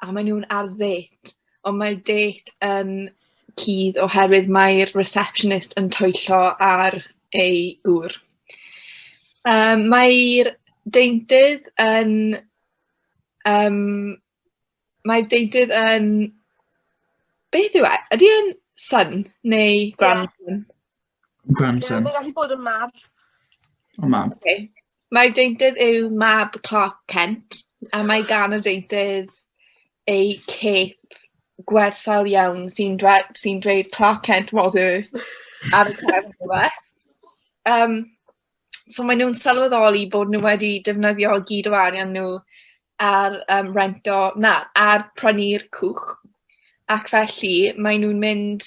a maen nhw'n ar ddêt, ond mae'r dêt yn cudd oherwydd mae'r receptionist yn twyllo ar ei gŵr. Um, mae'r deintydd yn... Um, mae'r deintydd yn... Beth yw e? Ydy e'n son neu grandson? Yeah. Grandson. Mae'n gallu bod yn mab. O mab. Okay. Mae deintydd yw mab Clark Kent, a mae gan y deintydd ei cape gwerthfawr iawn sy'n sy dweud Clark Kent was a ar y cefn yma. Um, so maen nhw'n sylweddoli bod nhw wedi defnyddio gyd o arian nhw ar um, rento, na, ar prynu'r cwch. Ac felly, maen nhw'n mynd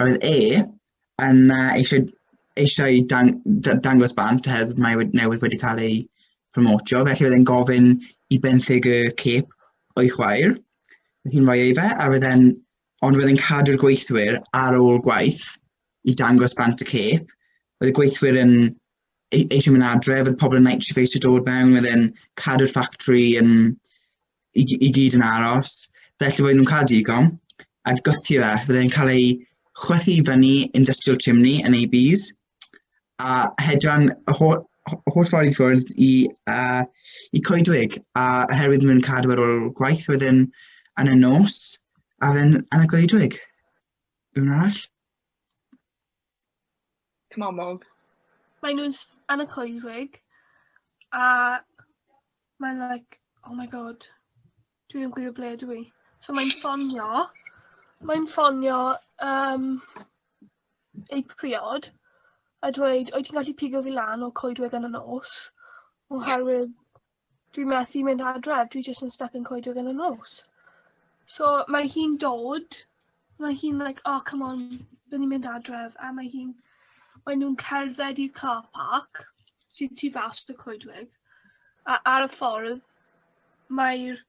Roedd e yna eisiau, eisiau dang, dangos bant hedd mae wedi, newydd wedi cael ei promotio, felly oedd e'n gofyn i benthyg y cep o'i chwaer. Roedd hi'n rhoi ei fe, a roedd e'n, ond roedd e'n cadw'r gweithwyr ar ôl gwaith i dangos bant y cep. Roedd y gweithwyr yn e-, eisiau mynd adre, roedd pobl yn night shift eisiau dod mewn, roedd e'n cadw'r ffactri yn, i, i gyd yn aros, felly roedden nhw'n cael digon, a gothio e, roedden nhw'n cael ei chwethu i fyny industrial chimney yn ABs, a hedran y holl, holl ffordd i ffwrdd i, uh, i coedwig, a oherwydd roedden nhw'n cadw ar ôl gwaith, roedden yn y nos, a roedden yn y coedwig. Rwy'n arall? Cymamog. Mae nhw'n yn y coedwig a mae'n like, oh my god, dwi ddim gwybod ble dwi. So mae'n ffonio, mae'n ffonio um, ei priod a dweud, oed ti'n gallu pigo fi lan o coedwig yn y nos? Oherwydd Dwi methu mynd adref, dwi jyst yn stuck yn coedwig yn y nos. So mae hi'n dod, mae hi'n like, oh come on, bydd ni'n mynd adref, a mae hi'n, mae nhw'n cerdded i'r car park sy'n tu fas y coedwig, a ar y ffordd mae'r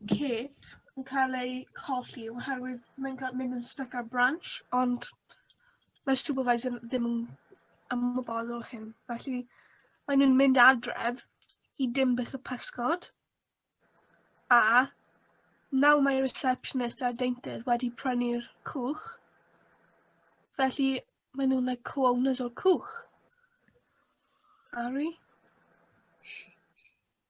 cip yn cael eu colli oherwydd mae'n cael mynd yn stuck ar branch, ond mae'r supervisor ddim yn ymwybodol o hyn. Felly, mae nhw'n mynd adref i Dimbych y Pysgod, a nawr mae receptionist a'r deintydd wedi prynu'r cwch, felly mae nhw'n like, co-owners o'r cwch. Ari?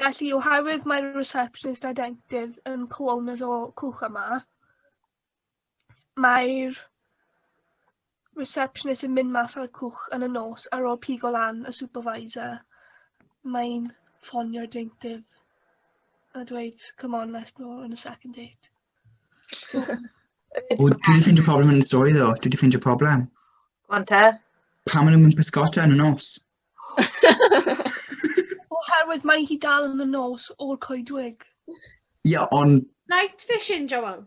Felly, oherwydd mae'r receptionist a dentydd yn co-owners o cwch yma, mae'r receptionist yn mynd mas ar y cwch yn y nos ar ôl pigo lan y supervisor. Mae'n ffonio'r deintydd a dweud, come on, let's go on a second date. O, dwi wedi ffeindio problem yn y stori ddo. Dwi wedi ffeindio problem. Ond te? Pam maen nhw'n mynd pysgota yn y nos? Oherwydd mae hi dal yn y nos o'r coedwig. Ie, ond... Night vision, Joel.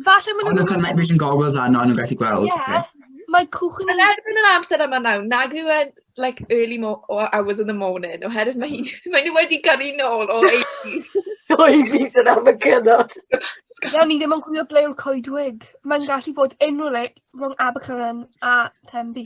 Falle maen nhw'n... Ond nhw'n cael night vision goggles a nhw'n gallu gweld. Ie. Yeah. Mae cwch yn... Yn erbyn yr amser yma nawr, nag yw e'n like, early mo hours in the morning, oherwydd mae, hi, mae nhw wedi gyrru nôl o 80s. o 80s yn am y cynnod. Iawn, ni ddim yn gwybod ble yw'r coedwig. Mae'n gallu fod unrhyw le rhwng Abercynan a Tenby.